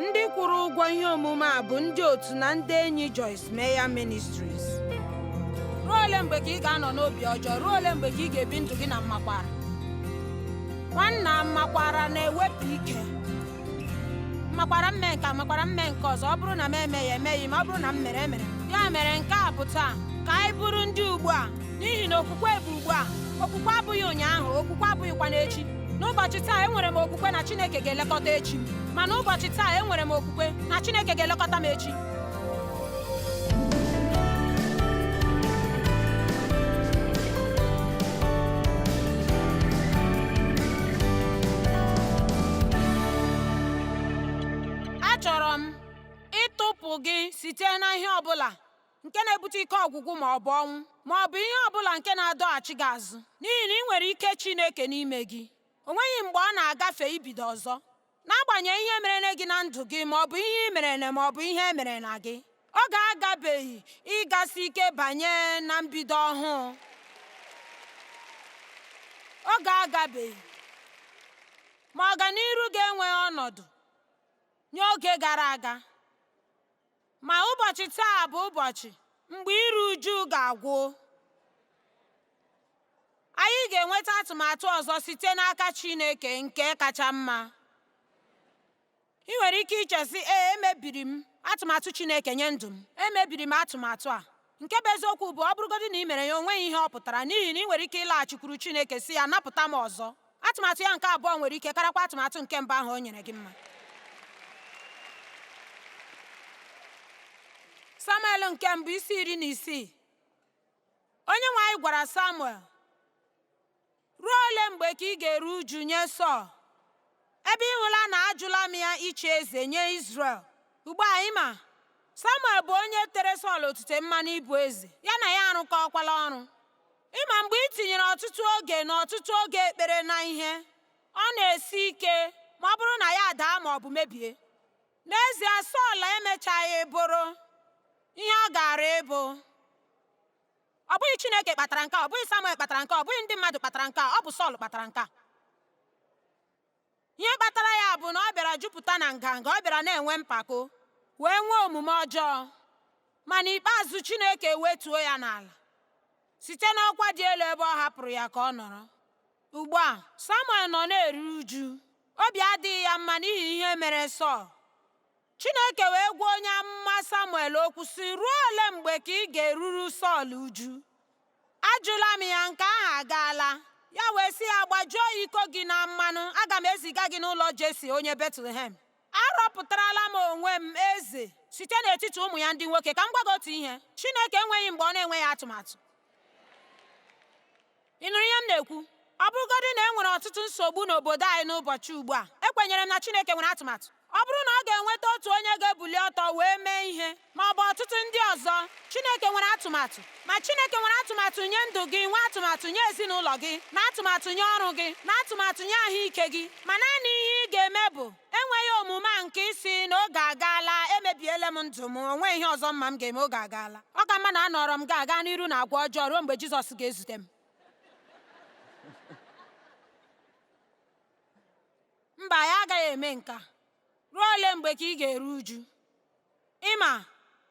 ndị kwụrụ ụgwọ ihe omume a bụ ndị otu na ndị enyi Joyce Meyer Ministries ruo ole mgbe ka ị ga-anọ n'obi ọjọọ ruo ole mgbe ka ị ga-ebi ndụ gị na mmakwara nwanna mmakwara na-ewepụ ike mmakwara mme nke a, mmakwara mme nke ọzọ ọ bụrụ na m emeghị emeghị ma ọ bụrụ na m mere emere ya mere nke a bụ taa ka anyị bụrụ ndị ugbu a n'ihi na okwukwe bụ ugbu a okwukwe abụghị ụnyaahụ okwukwe abụghịkwanụ echi n'ụbọchị taa enwere m okwukwe na Chineke ga-elekọta echi m ma n'ụbọchị taa enwere m okwukwe na Chineke ga-elekọta m echi achọrọ m ịtọpụ gị site na ihe ọ bụla nke na-ebute ike ọgwụgwụ ma ọ bụ ọnwụ ma ọ bụ ihe ọ bụla nke na-adọghachi gị azụ n'ihi na ị nwere ike Chineke n'ime gị o nweghị mgbe ọ na-agafe ibido ọzọ n'agbanyeghị ihe merene gị na ndụ gị ma ọ bụ ihe i merena ma ọ bụ ihe e merena gị oge agabeghị ịgasi ike banye na mbido ọhụụ oge agabeghị ma ọganiru gị enweghị ọnọdụ nye oge gara aga Ma ụbọchị taa bụ ụbọchị mgbe iru uju ga-agwụ. Anyị ga-enweta atụmatụ ọzọ site n'aka Chineke nke kacha mma. Ị nwere ike iche sị, ee, emebiri m atụmatụ Chineke nye ndụ m. Emebiri m atụmatụ a. Nke bụ eziokwu bụ ọ bụrụgodị na i mere ya o nweghị ihe ọ pụtara n'ihi na ị nwere ike ịlaghachikwuru Chineke sị ya napụta m ọzọ. Atụmatụ ya nke abụọ nwere ike karakwa atụmatụ nke mbụ ahụ o nyere gị mma. Samuel nke mbụ isi iri na isii Onyenwe anyị gwara Samuel Ruo ole mgbe ka ị ga-eru uju nye Sọl? Ebe ị hụla na ajụla m ya ịchị eze nye Izrel. Ugbu a ị ma, Samuel bụ onye tere Sọl otite mmanụ ịbụ eze, ya na ya arụkọọkwala ọrụ. Ị ma mgbe i tinyere ọtụtụ oge na ọtụtụ oge ekpere na ihe, ọ na-esi ike ma ọ bụrụ na ya adaa ma ọ bụ mebie. N'ezie, Sọl emechaghị bụrụ ihe ọ gaara ịbụ. Ọ bụghị Chineke kpatara nke a, ọ bụghị Samuel kpatara nke a, ọ bụghị ndị mmadụ kpatara nke a, ọ bụ Sọl kpatara nke a. Ihe kpatara ya bụ na ọ bịara jupụta na nganga, ọ bịara na-enwe mpako, wee nwee omume ọjọọ. Ma n'ikpeazụ Chineke wetuo ya n'ala site n'ọkwa dị elu ebe ọ hapụrụ ya ka ọ nọrọ. Ugbu a, Samuel nọ na-eru uju, obi adịghị ya mma n'ihi ihe mere Sọl. Chineke wee gwa onye amụma Samuel okwu sị ruo ole mgbe ka ị ga-eruru Sọl uju ajụla m ya nke ahụ agaala ya wee sị ya gbajuo iko gị na mmanụ aga m eziga gị n'ụlọ Jesi onye Betlehem arọpụtarala m onwe m eze site n'etiti ụmụ ya ndị nwoke ka m gwa gị otu ihe Chineke enweghị mgbe ọ na-enweghị atụmatụ Ị nụrụ ihe m na-ekwu? Ọ bụrụgodị na e nwere ọtụtụ nsogbu n'obodo anyị n'ụbọchị ugbu a, ekwenyere m na Chineke nwere atụmatụ. Ọ bụrụ na ọ ga-enweta otu onye ga-ebuli ọtọ wee mee ihe, ma ọ bụ ọtụtụ ndị ọzọ, Chineke nwere atụmatụ. Ma Chineke nwere atụmatụ nye ndụ gị, nwee atụmatụ nye ezinụlọ gị, na atụmatụ nye ọrụ gị, na atụmatụ nye ahụike gị. Ma naanị ihe ị ga-eme bụ enweghị omume a nke ịsị na oge agaala emebiela m ndụ m o nweghị ihe ọzọ m ma m ga-eme oge agaala ọ ka mma na anọrọ m ga-aga n'iru na agwa ọjọọ ruo mgbe Jizọs ga-ezute m mba ya agaghị eme nke a ruo ole mgbe ka ị ga-eru uju ị ma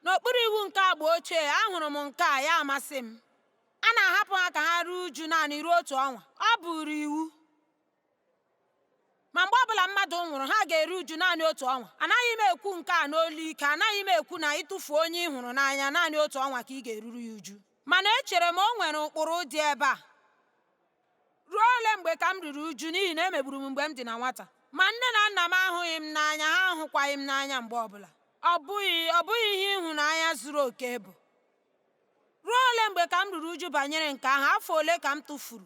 n'okpuru iwu nke agba ochie ahụrụ m nke a ya amasị m a na-ahapụ ha ka ha ruo uju naanị ruo otu ọnwa ọ bụụrụ iwu ma mgbe ọbụla mmadụ nwụrụ ha ga-eru uju naanị otu ọnwa anaghị m ekwu nke a n'olu ike anaghị m ekwu na ịtụfu onye ị hụrụ n'anya naanị otu ọnwa ka ị ga-eruru ya uju mana echere m o nwere ụkpụrụ dị ebe a ruo ole mgbe ka m ruru uju n'ihi na e megburu m mgbe m dị na nwata ma nne na nna m ahụghị m n'anya ha ahụkwaghị m n'anya mgbe ọbụla ọ bụghị ihe ịhụnanya zuru oke bụ ruo ole mgbe ka m ruru uju banyere nke ahụ afọ ole ka m tụfuru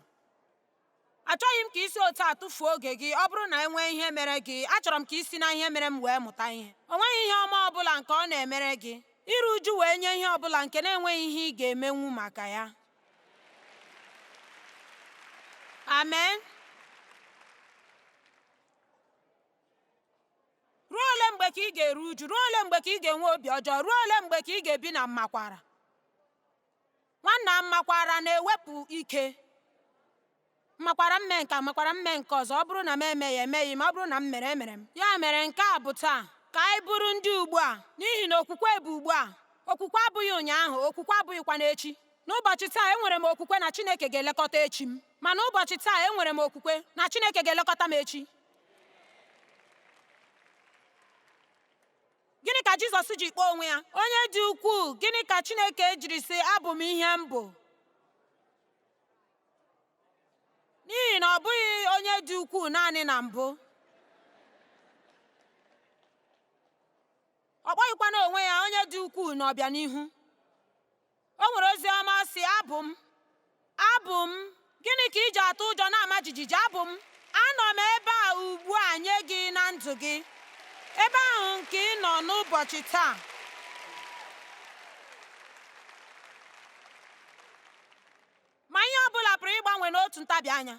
Achọghị m ka i si otu a tụfuo oge gị ọ bụrụ na e nwee ihe mere gị. Achọrọ m ka i si na ihe mere m wee mụta ihe. O nweghị ihe ọma ọ bụla nke ọ na-emere gị. Iru uju wee nye ihe ọ bụla nke na-enweghị ihe ị ga-emenwu maka ya. Amen. Ruo ole mgbe ka ị ga-eru uju? Ruo ole mgbe ka ị ga-enwe obi ọjọọ? Ruo ole mgbe ka ị ga-ebi na mmakwara? Nwanna mmakwara na-ewepụ ike m makwara m mee nke a makwara m mee nke ọzọ ọ bụrụ na m emeghị emeghị ma ọ bụrụ na m mere emere m ya mere nke a bụ taa ka anyị bụrụ ndị ugbu a n'ihi na okwukwe bụ ugbu a okwukwe abụghị ụnyaahụ okwukwe abụghịkwanụ echi n'ụbọchị taa enwere m okwukwe na Chineke ga-elekọta echi m ma n'ụbọchị taa enwere m okwukwe na Chineke ga-elekọta m echi Gịnị ka Jizọs ji kpọọ onwe ya onye dị ukwuu? Gịnị ka Chineke jiri sị abụ m ihe m bụ? N'ihi na ọ bụghị onye dị ukwuu naanị na mbụ. Ọ kpọghịkwanụ onwe ya onye dị ukwuu n'ọbịanihu. O nwere ozi ọma sị, Abụ m, abụ m, gịnị ka i ji atụ ụjọ na-ama jijiji? Abụ m, anọ m ebe a ugbu a nye gị na ndụ gị, ebe ahụ nke ị nọ n'ụbọchị taa. Ma ihe ọ bụla pụrụ ịgbanwe n'otu ntabi anya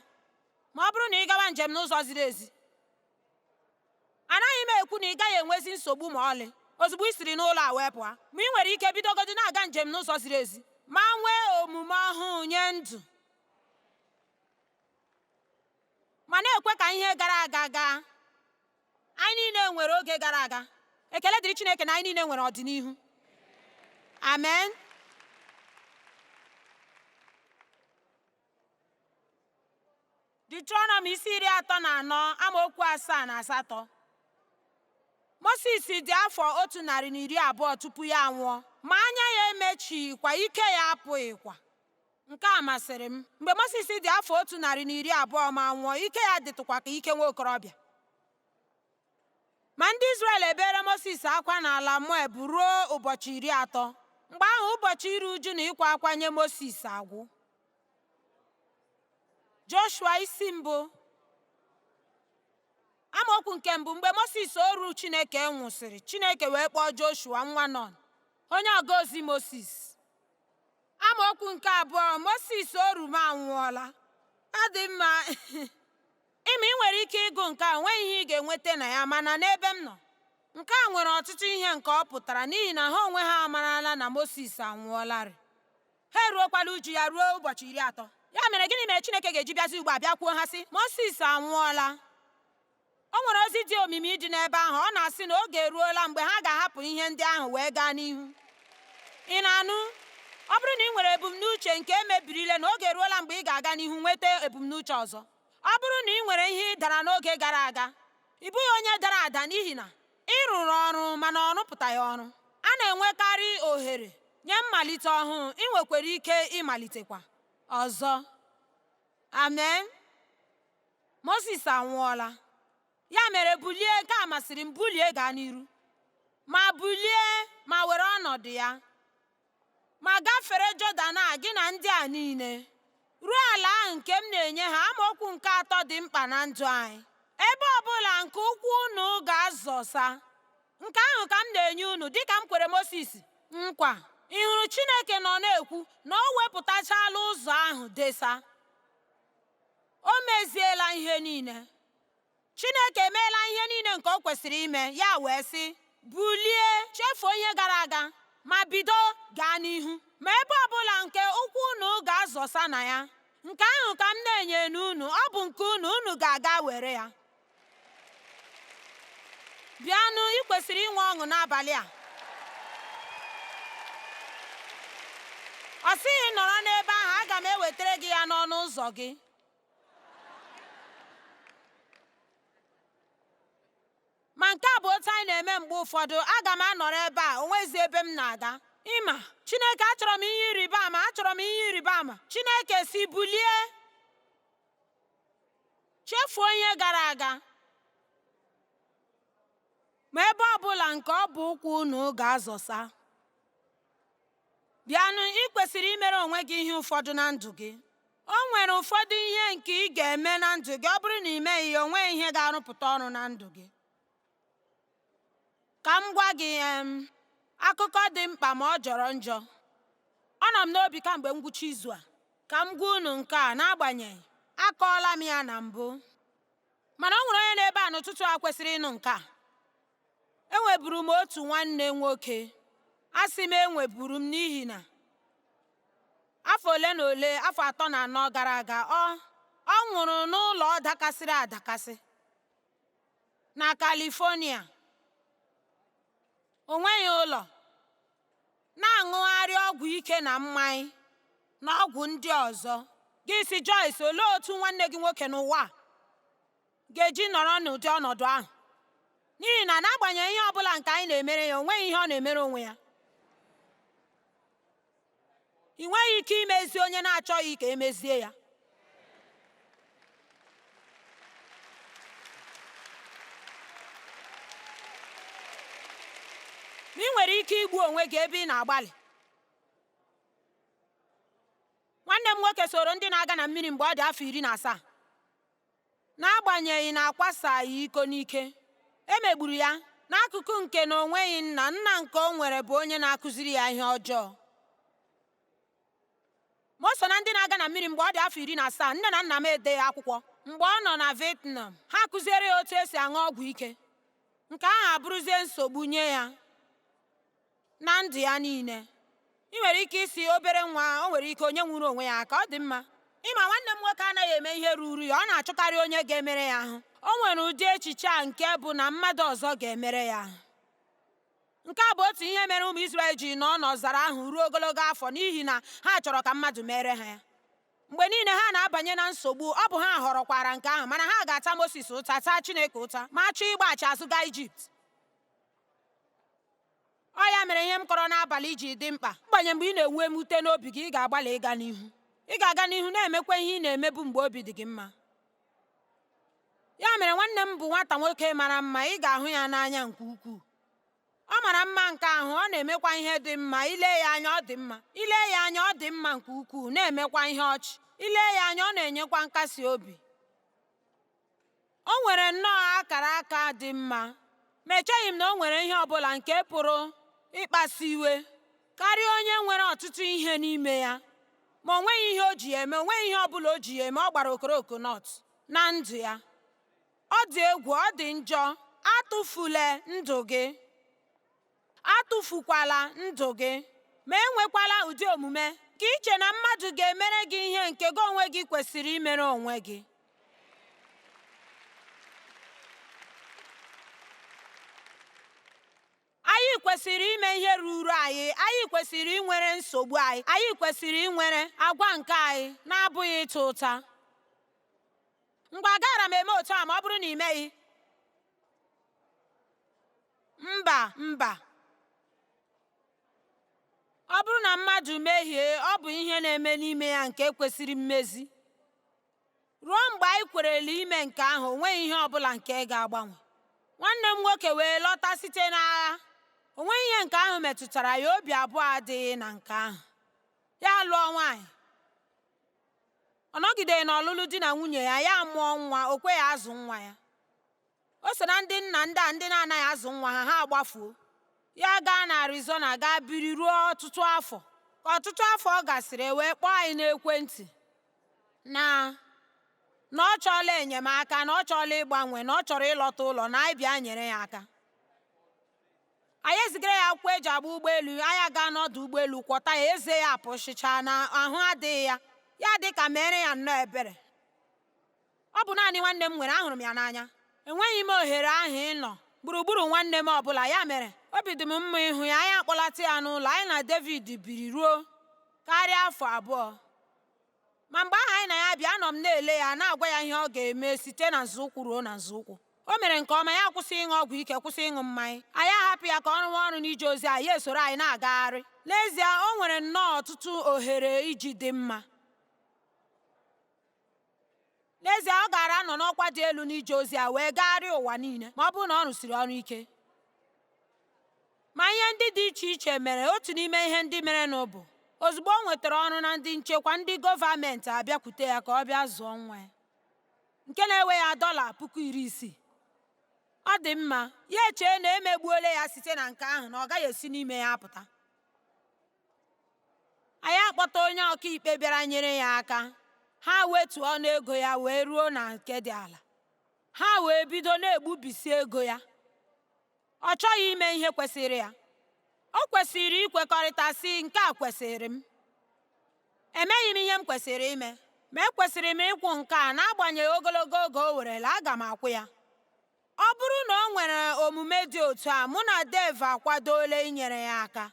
ma ọ bụrụ na ị gawa njem n'ụzọ ziri ezi. anaghị m ekwu na ị gaghị enwezi nsogbu ma ọlị ozugbo ị siri n'ụlọ a wee pụọ ma ị nwere ike bidogodi na-aga njem n'ụzọ ziri ezi ma nwee omume ọhụụ nye ndụ ma na-ekwe ka ihe gara aga gaa anyị niile nwere oge gara aga ekele dịrị Chineke na anyị niile nwere ọdịnihu amen Ditrọnọm isi iri atọ na anọ amaokwu asaa na asatọ Mosis dị afọ otu narị na iri abụọ tupu ya anwụọ ma anya ya emechighịkwa ike ya apụghịkwa nke a masịrị m mgbe Mosis dị afọ otu narị na iri abụọ ma nwụọ ike ya dịtụkwa ka ike nwa okorobịa ma ndị Izrel ebeere Mosis akwa n'ala Moab ruo ụbọchị iri atọ mgbe ahụ ụbọchị iru uju na ịkwa akwa nye Mosis agwụ joshua isi mbụ amaokwu nke mbụ mgbe moses oru chineke nwụsịrị chineke wee kpọọ joshua nwa nọn onye ọga ozi moses amaokwu nke abụọ moses oru m anwụọla ọ dị mma ị ma ị nwere ike ịgụ nke a nweghị ihe ị ga-enweta na ya mana n'ebe m nọ nke a nwere ọtụtụ ihe nke ọ pụtara n'ihi na ha onwe ha amarala na moses anwụọlarị ha eruokwala uju ya ruo ụbọchị iri atọ ya mere gịnị mere Chineke ga-eji bịazi ugbu a bịakwuo ha sị Mosis anwụọla o nwere ozi dị omimi dị n'ebe ahụ ọ na-asị na oge eruola mgbe ha ga-ahapụ ihe ndị ahụ wee gaa n'ihu ị na-anụ ọ bụrụ na ị nwere ebumnuche nke e mebiri lee na oge eruola mgbe ị ga-aga n'ihu nweta ebumnuche ọzọ ọ bụrụ na ị nwere ihe ị dara n'oge gara aga ị bụghị onye dara ada n'ihi na ị rụrụ ọrụ mana ọ rụpụtaghị ọrụ a na-enwekarị ohere nye mmalite ọhụụ ị nwekwara ike ịmalitekwa ọzọ amen Moses anwụọla ya mere bulie nke a masịrị m bulie gaa n'iru ma bulie ma were ọnọdụ ya ma gafere Jọdan a gị na ndị a niile ruo ala ahụ nke m na-enye ha amaokwu nke atọ dị mkpa na ndụ anyị ebe ọbụla nke ụkwụ unu ga-azọsa nke ahụ ka m na-enye unu dịka m kwere Mosis nkwa ị hụrụ Chineke nọ na-ekwu na o wepụtachala ụzọ ahụ desa o meziela ihe niile Chineke emeela ihe niile nke o kwesịrị ime, ya wee sị, Bulie, chefuo ihe gara aga, ma bido gaa n'ihu. Ma ebe ọ bụla nke ụkwụ unu ga-azọsa na ya, nke ahụ ka m na-enyenụ unu, ọ bụ nke unu, unu ga-aga were ya. Bịanụ, ị kwesịrị inwe ọṅụ n'abalị a. Ọ sịghị nọrọ n'ebe ahụ, aga m ewetara gị ya n'ọnụ ụzọ gị. ma nke a bụ otu anyị na-eme mgbe ụfọdụ aga m anọrọ ebe a onwezi ebe m na-aga ị ma chineke achọrọ m ihe ịrịba ama achọrọ m ihe ịrịba ama chineke sị bulie chefuo ihe gara aga ma ebe ọ bụla nke ọbụ ụkwụ unu ga-azọsa bịanụ ị kwesịrị imere onwe gị ihe ụfọdụ na ndụ gị o nwere ụfọdụ ihe nke ị ga-eme na ndụ gị ọ bụrụ na ị meghị ya o nweghị ihe ga-arụpụta ọrụ na ndụ gị ka m gwa gị em akụkọ dị mkpa ma ọ jọrọ njọ ọ nọ m n'obi kamgbe ngwụcha izu a ka m gwa unu nke a n'agbanyeghị akọọla m ya na mbụ mana o nwere onye n'ebe a n'ụtụtụ a kwesịrị ịnụ nke a Enweburu m otu nwanne nwoke. Asị m enweburu m n'ihi na afọ ole na ole afọ atọ na anọ gara aga ọ ọ nwụrụ n'ụlọ dakasịrị adakasị na California. O nweghị ụlọ, na-aṅụgharị ọgwụ ike na mmanya na ọgwụ ndị ọzọ. Gị sị Joyce, olee otu nwanne gị nwoke n'ụwa a? ga-eji nọrọ n'ụdị ọnọdụ ahụ n'ihi na n'agbanyeghị ihe ọ bụla nke anyị na-emere ya o nweghị ihe ọ na-emere onwe ya ị nweghị ike imezi onye na-achọghị ka e mezie ya ị nwere ike igbu onwe gị ebe ị na-agbalị nwanne m nwoke soro ndị na-aga na mmiri mgbe ọ dị afọ iri na asaa N'agbanyeghị na akwasaghị iko n'ike, e megburu ya n'akụkụ nke na o nweghị nna, nna nke o nwere bụ onye na-akụziri ya ihe ọjọọ. Ma o so na ndị na-aga na mmiri mgbe ọ dị afọ iri na asaa, nne na nna m edeghị akwụkwọ mgbe ọ nọ na Vietnam, ha kụziere ya otu esi aṅụ ọgwụ ike, nke ahụ abụrụzie nsogbu nye ya. na ndụ ya niile ị nwere ike ịsị obere nwa o nwere ike o nyenwughị onwe ya aka ọ dị mma ị ma nwanne m nwoke anaghị eme ihe ruru ya ọ na-achọkarị onye ga-emere ya ahụ o nwere ụdị echiche a nke bụ na mmadụ ọzọ ga-emere ya ahụ nke a bụ otu ihe mere ụmụ Izrel ji nọ n'ọzara ahụ ruo ogologo afọ n'ihi na ha chọrọ ka mmadụ meere ha ya mgbe niile ha na-abanye na nsogbu ọ bụ ha họrọkwara nke ahụ mana ha ga-ata Mosis ụta taa Chineke ụta ma chọọ ịgbaghachi azụ gaa Ijipt Ọ ya mere ihe m kọrọ n'abalị ji dị mkpa. Mgbanye mgbe ị na-enwe mwute n'obi gị, ị ga-agbalị ịga n'ihu. Ị ga-aga n'ihu na-emekwa ihe ị na-emebu mgbe obi dị gị mma. Ya mere nwanne m bụ nwata nwoke mara mma, ị ga-ahụ ya n'anya nke ukwuu. Ọ mara mma nke ahụ, ọ na-emekwa ihe dị mma, ile ya anya ọ dị mma. Ile ya anya ọ dị mma nke ukwuu, na-emekwa ihe ọchị. Ile ya anya ọ na-enyekwa nkasi obi. O nwere nnọọ akara aka dị mma, ma echeghị m na o nwere ihe ọ bụla nke pụrụ ịkpasu iwe karịa onye nwere ọtụtụ ihe n'ime ya. Ma o nweghị ihe o ji ha eme, o nweghị ihe ọ bụla o ji ha eme, ọ gbara okoroko nọt na ndụ ya. Ọ dị egwu, ọ dị njọ, atụfule ndụ gị. Atụfukwala ndụ gị, ma enwekwala ụdị omume nke iche na mmadụ ga-emere gị ihe nke gị onwe gị kwesịrị imere onwe gị. Anyị kwesịrị ime ihe ruru anyị, anyị kwesịrị inwere nsogbu anyị, anyị kwesịrị inwere agwa nke anyị na-abụghị ịta ụta. Mgbe agaghara m eme otu a ma ọ bụrụ na ị meghị? Mba, mba. Ọ bụrụ na mmadụ mehie, ọ bụ ihe na-eme n'ime ya nke kwesịrị mmezi. Ruo mgbe anyị kwerela ime nke ahụ, o nweghị ihe ọ bụla nke ga-agbanwe. Nwanne m nwoke wee lọta site n'agha. O nweghị ihe nke ahụ metụtara ya, obi abụọ adịghị na nke ahụ. Ya alụọ nwaanyị. Ọ nọgideghị n'ọlụlụ di na nwunye ya, ya amụọ nwa, o kweghị azụ nwa ya. o so na ndị nna ndị a ndị na-anaghị azụ nwa ha ha agbafuo ya gaa na Arizona gaa biri ruo ọtụtụ afọ ka ọtụtụ afọ gasịrị e wee kpọọ anyị n'ekwentị na na ọ chọọla enyemaka na ọ chọọla ịgbanwe na ọ chọrọ ịlọta ụlọ na anyị bịa nyere ya aka anyị ezigara ya akwụkwọ e ji agba ụgbọelu anyị gaa n'ọdụ ụgbọelu kwọta ya eze ya apụsịchaala ahụ adịghị ya ya dị ka meere ya nnọọ ebere Ọ bụ naanị nwanne m nwere, ahụrụ m ya n'anya. Enweghị m ohere ahụ ịnọ gburugburu nwanne m ọ bụla, ya mere obi dị m mma ịhụ ya. Anyị akpọlata ya n'ụlọ, anyị na David biri ruo karịa afọ abụọ. Ma mgbe ahụ anyị na ya bi, anọ m na-ele ya, na-agwa ya ihe ọ ga-eme site na nzọụkwụ ruo na nzọụkwụ. O mere nke ọma, ya akwụsị ịṅụ ọgwụ ike, kwụsị ịṅụ mmanya. Anyị ahapụ ya ka ọ rụwa ọrụ n'ije ozi a, ya esoro anyị na-agagharị. N'ezie, o nwere nnọọ ọtụtụ ohere iji dị mma. N'ezie, ọ gaara anọ n'ọkwa dị elu n'ije ozi a wee gagharịa ụwa niile ma ọ bụrụ na ọ rụsiri ọrụ ike. Ma ihe ndị dị iche iche mere otu n'ime ihe ndị merenụ bụ ozugbo o nwetara ọrụ na ndị nchekwa ndị gọọmenti abịakwute ya ka ọ bịa zụọ nwa ya nke na-ewe ya dọla puku iri isii ọ dị mma ya echee na emegbuola ya site na nke ahụ na ọ gaghị esi n'ime ya apụta anyị akpọta onye ọkaikpe bịara nyere ya aka ha wetuo ọnụ ego ya wee ruo na nke dị ala ha wee bido na-egbubisi ego ya ọ chọghị ime ihe kwesịrị ya o kwesịrị ikwekọrịta sị nke a kwesịrị m emeghị m ihe m kwesịrị ime ma ekwesịrị m ịkwụ nke a n'agbanyeghị ogologo oge o werela aga m akwụ ya Ọ bụrụ na o nwere omume dị otu a, mụ na Dave akwadoola inyere ya aka.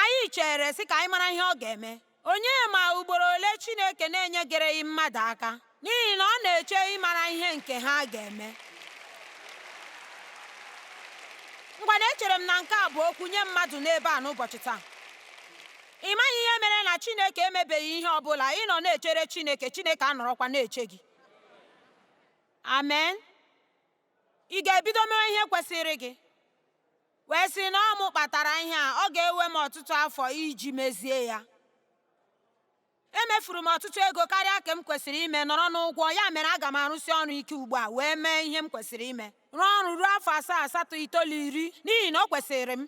Anyị chere sị ka anyị mara ihe ọ ga-eme. Onye ma ugboro ole Chineke na-enyegereghị mmadụ aka n'ihi na ọ na-eche ịmara ihe nke ha ga-eme. Ngwanụ echere m na nke a bụ okwu nye mmadụ n'ebe a n'ụbọchị taa. Ị maghị ihe mere na Chineke emebeghị ihe ọ bụla ị nọ na-echere Chineke, Chineke anọrọkwa na-eche gị. Amen. Ị ga-ebido mewe ihe kwesịrị gị wee sị na ọ mụ kpatara ihe a ọ ga-ewe m ọtụtụ afọ iji mezie ya emefuru m ọtụtụ ego karịa ka m kwesịrị ime nọrọ n'ụgwọ ya mere aga m arụsi ọrụ ike ugbu a wee mee ihe m kwesịrị ime rụọ ọrụ ruo afọ asaa asatọ itoolu iri n'ihi na o kwesịrị m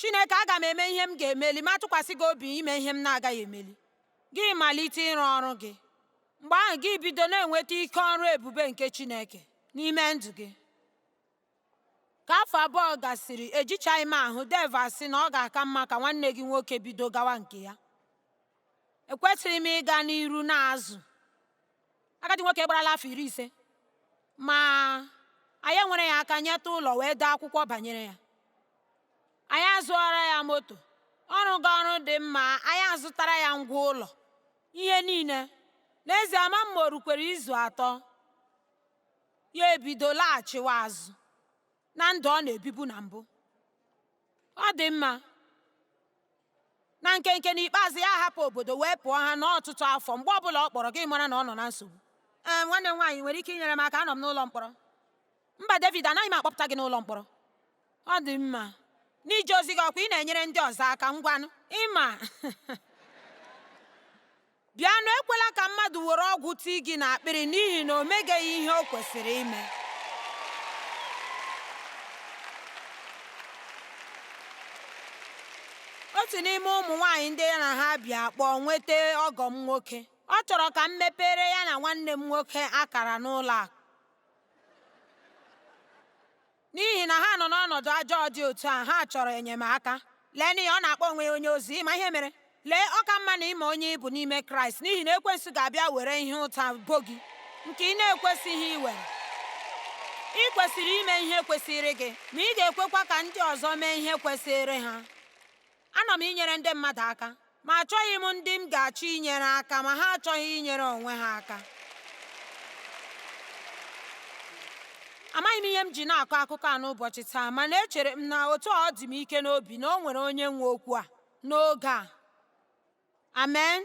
Chineke, aga m eme ihe m ga-emeli ma tụkwasị gị obi ime ihe m na-agaghị emeli. Gị malite ịrụ ọrụ gị. Mgbe ahụ gị bido na-enweta ike ọrụ ebube nke Chineke n'ime ndụ gị. Ka afọ abụọ gasịrị, ejichaghị m ahụ Dave asị na ọ ga-aka mma ka nwanne gị nwoke bido gawa nke ya. ekwesịghị m ịga n'iru na-azụ agadi nwoke gbarala afọ iri ise ma anyị nwere ya aka nyeta ụlọ wee dee akwụkwọ banyere ya anyị azụọra ya moto ọ rụga ọrụ dị mma anyị azụtara ya ngwa ụlọ ihe niile n'ezie ama m ma o rukwere izu atọ ya ebido laghachiwa azụ na ndụ ọ na-ebibu na mbụ ọ dị mma na nkenke n'ikpeazụ ya hapụ obodo wee pụọ ha n'ọtụtụ afọ mgbe ọbụla ọ kpọrọ gị mara na ọ nọ na nsogbu ee nwanne m nwaanyị nwere ike inyere m aka anọ m n'ụlọ mkpọrọ mba David anaghị m akpọpụta gị n'ụlọ mkpọrọ ọ dị mma n'ije ozi gị ọkwa ị na-enyere ndị ọzọ aka ngwanụ ịma Bịanụ, ekwela ka mmadụ were ọgwụ tii gị n'akpịrị n'ihi na o megeghị ihe o kwesịrị ime. otu n'ime ụmụ nwaanyị ndị ya na ha bi akpọọ nweta ọgọ m nwoke ọ chọrọ ka m mepere ya na nwanne m nwoke akara n'ụlọ akụ N'ihi na ha nọ n'ọnọdụ ajọọ dị otu a, ha chọrọ enyemaka. Leenụ ihe ọ na-akpọ onwe ya onye ozi, ịma ihe mere? Lee, ọ ka mma na ịma onye ị bụ n'ime Kraịst, n'ihi na ekwensu ga-abịa were ihe ụta bo gị nke ị na-ekwesịghị iwere. Ị kwesịrị ime ihe kwesịrị gị, ma ị ga-ekwekwa ka ndị ọzọ mee ihe kwesịrị ha. Anọ m inyere ndị mmadụ aka, ma achọghị m ndị m ga-achọ inyere aka ma ha achọghị inyere onwe ha aka. Amaghị m ihe m ji na-akọ akụkọ a n'ụbọchị taa, mana echere m na otu ọ dị m ike n'obi na o nwere onye nwe okwu a n'oge a. Amen.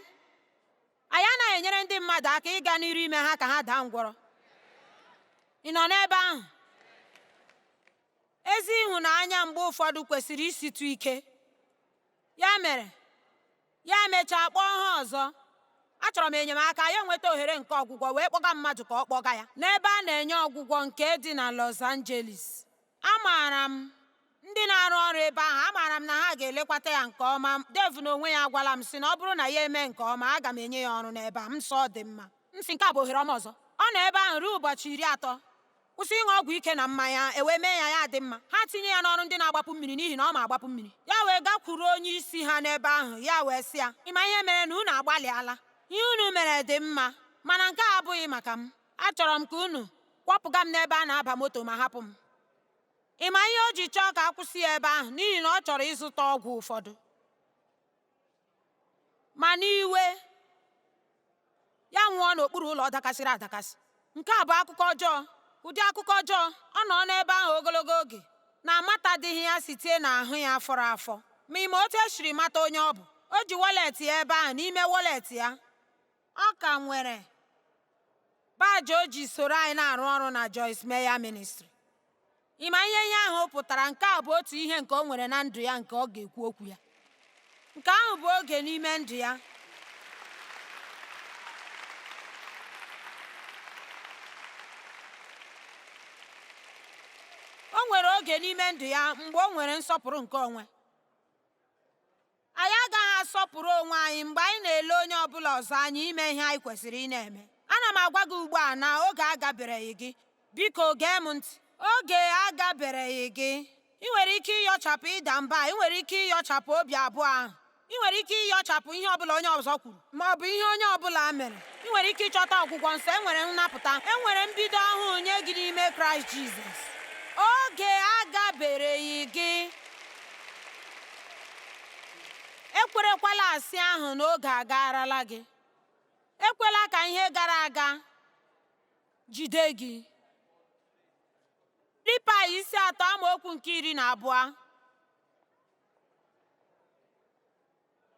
Anyị anaghị enyere ndị mmadụ aka ịga n'iru ime ha ka ha daa ngwọrọ. Ị nọ n'ebe ahụ? Ezi ịhụnanya mgbe ụfọdụ kwesịrị isitụ ike. Ya mere, ya emechaa kpọọ ha ọzọ. Achọrọ m enyemaka, ya enweta ohere nke ọgwụgwọ wee kpọga mmadụ ka ọ kpọga ya n'ebe a na-enye ọgwụgwọ nke dị na Los Angeles. Amaara m ndị na-arụ ọrụ ebe ahụ, amaara m na ha ga-elekwata ya nke ọma. Dave n'onwe ya agwala m sị na ọ bụrụ na ya eme nke ọma, aga m enye ya ọrụ n'ebe a. M sị, Ọ dị mma. M sị, Nke a bụ ohere ọma ọzọ. Ọ nọ ebe ahụ ruo ụbọchị iri atọ. kwụsị ịṅụ ọgwụ ike na mmanya e wee mee ya ya adị mma ha tinye ya n'ọrụ ndị na-agbapụ mmiri n'ihi na ọ ma agbapụ mmiri ya wee gakwuru onye isi ha n'ebe ahụ ya wee sị ya ịma ihe mere na unu agbalịala ihe unu mere dị mma mana nke a abụghị maka m achọrọ m ka unu kwọpụga m n'ebe a na-aba moto ma hapụ m ịma ihe o ji chọọ ka a kwụsị ya ebe ahụ n'ihi na ọ chọrọ ịzụta ọgwụ ụfọdụ ma ṅụwe ya nwụọ n'okpuru ụlọ dakasịrị adakasị nke a bụ akụkọ ọjọọ ụdị akụkọ ọjọọ ọ nọ n'ebe ahụ ogologo oge na amatadịghị ya site n'ahụ ya fọrọ afọ ma ịma otu esiri mata onye ọ bụ o ji wọlet ya ebe ahụ n'ime wọlet ya Ọ ka nwere baajị o ji soro anyị na-arụ ọrụ na Joyce Meyer Ministry. Ị ma ihe ihe ahụ pụtara nke a bụ otu ihe nke o nwere na ndụ ya nke ọ ga-ekwu okwu ya. Nke ahụ bụ oge n'ime ndụ ya o nwere oge n'ime ndụ ya mgbe o nwere nsọpụrụ nke onwe Anyị agaghị asọpụrụ onwe anyị mgbe anyị na-ele onye ọ bụla ọzọ anya ime ihe anyị kwesịrị ị na-eme. Ana m agwa gị ugbu a na oge agabereghị gị. Biko gee m ntị. Oge agabereghị gị. Ị nwere ike ịyọchapụ ịda mba, ị nwere ike ịyọchapụ obi abụọ ahụ, ị nwere ike ịyọchapụ ihe ọ bụla onye ọzọ kwuru. ma ọ bụ ihe onye ọ bụla mere ị nwere ike ịchọta ọgwụgwọ nsọ e nwere nnapụta e nwere mbido ọhụụ nye gị n'ime kraịst jizọs oge agabereghị gị ekwerekwala asị ahụ na oge agaarala gị ekwela ka ihe gara aga jide gị Filipaị isi atọ amaokwu nke iri na abụọ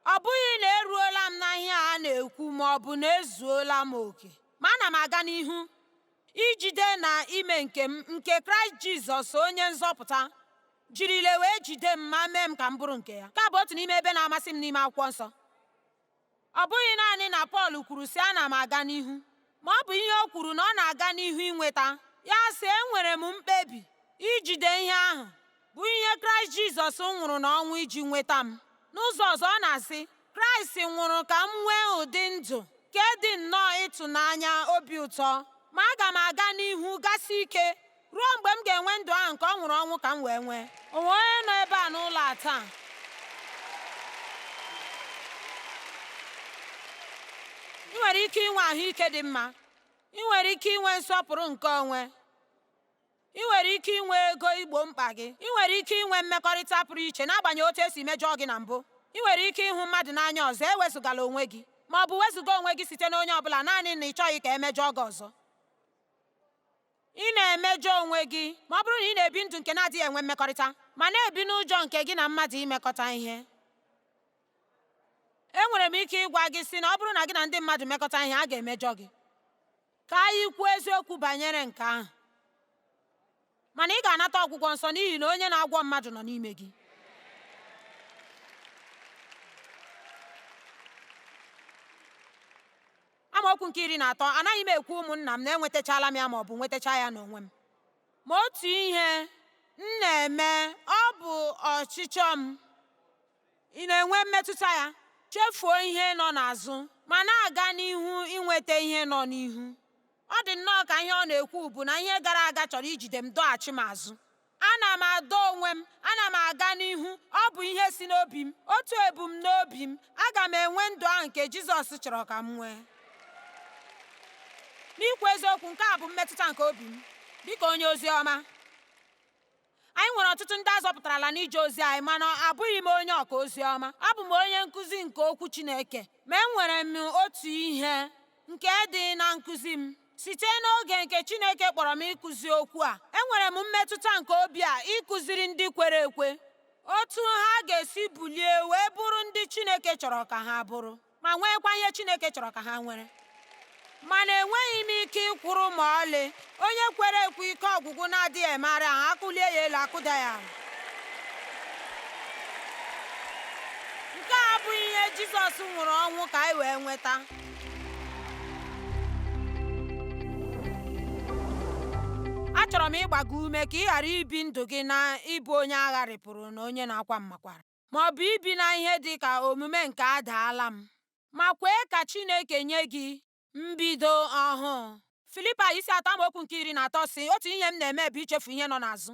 Ọ bụghị na eruola m na ihe a na-ekwu ma ọ bụ na ezuola m oke, ma ana m aga n'ihu ijide na ime nke m nke Kraịst Jizọs onye nzọpụta jirile wee jide m ma mee m ka m bụrụ nke ya. Nke a bụ otu n'ime ebe na-amasị m n'ime akwụkwọ nsọ. Ọ bụghị naanị na Pọl kwuru sị ana m aga n'ihu Ma ọ bụ ihe o kwuru na ọ na-aga n'ihu inweta. Ya sị, Enwere m mkpebi ijide ihe ahụ bụ ihe Kraịst Jizọs nwụrụ n'ọnwụ iji nweta m. N'ụzọ ọzọ, ọ na-asị, Kraịst nwụrụ ka m nwee ụdị ndụ nke dị nnọọ ịtụnanya obi ụtọ, ma aga m aga n'ihu gasi ike ruo mgbe m ga-enwe ndụ ahụ nke ọ nwụrụ ọnwụ ka m wee nwee o nwee onye nọ ebe a n'ụlọ a taa ị nwere ike inwe ahụike dị mma ị nwere ike inwe nsọpụrụ nke onwe ị nwere ike inwe ego igbo mkpa gị ị nwere ike inwe mmekọrịta pụrụ iche n'agbanyeghị otu e si mejọọ gị na mbụ ị nwere ike ịhụ mmadụ n'anya ọzọ ewezugala onwe gị ma ọ bụ wezuga onwe gị site na onye ọ bụla naanị na ị chọghị ka e mejọọ gị ọzọ Ị na-emejọ onwe gị ma ọ bụrụ na ị na-ebi ndụ nke na-adịghị enwe mmekọrịta ma na-ebi n'ụjọ nke gị na mmadụ imekọta ihe. Enwere m ike ịgwa gị sị na ọ bụrụ na gị na ndị mmadụ mekọta ihe, a ga-emejọ gị. Ka anyị kwuo eziokwu banyere nke ahụ. Mana ị ga-anata ọgwụgwọ nsọ n'ihi na onye na-agwọ mmadụ nọ n'ime gị. Amaokwu nke iri na atọ anaghị m ekwu ụmụnna m na enwetachala m ya ma ọ bụ nwetacha ya n'onwe m ma otu ihe m na-eme ọ bụ ọchịchọ m ị na-enwe mmetụta ya chefuo ihe nọ n'azụ ma na-aga n'ihu inweta ihe nọ n'ihu ọ dị nnọọ ka ihe ọ na-ekwu bụ na ihe gara aga chọrọ ijide m dọghachi m azụ Ana m adọ onwe m, ana m aga n'ihu, ọ bụ ihe si n'obi m, otu ebumnobi m, aga m enwe ndụ ahụ nke Jizọs chọrọ ka m nwee. N'ikwu eziokwu, nke a bụ mmetụta nke obi m dị ka onye ozi ọma. Anyị nwere ọtụtụ ndị a zọpụtarala n'ije ozi anyị mana abụghị m onye ọka ozi ọma. Abụ m onye nkụzi nke Okwu Chineke, ma enwere m otu ihe nke dị na nkụzi m. Site n'oge nke Chineke kpọrọ m ịkụzi okwu a, enwere m mmetụta nke obi a ịkụziri ndị kwere ekwe otu ha ga-esi bulie wee bụrụ ndị Chineke chọrọ ka ha bụrụ ma nweekwa ihe Chineke chọrọ ka ha nwere. Mana enweghị m ike ịkwụrụ ma ọlị onye kwere ekwe ike ọgwụgwụ na-adịghị emegharị ahụ a kụlie ya elu a kụda ya ala. Nke a abụghị ihe Jizọs nwụrụ ọnwụ ka anyị wee nweta. achọrọ m ịgba gị ume ka ị ghara ibi ndụ gị na ịbụ onye a gharịpụrụ na onye na-akwa mmakwara ma ọ bụ ibi na ihe dị ka omume nke adaala m ma kwee ka Chineke nye gị mbido ọhụụ Filipaị isi atọ amaokwu nke iri na atọ sị otu ihe m na-eme bụ ichefu ihe nọ n'azụ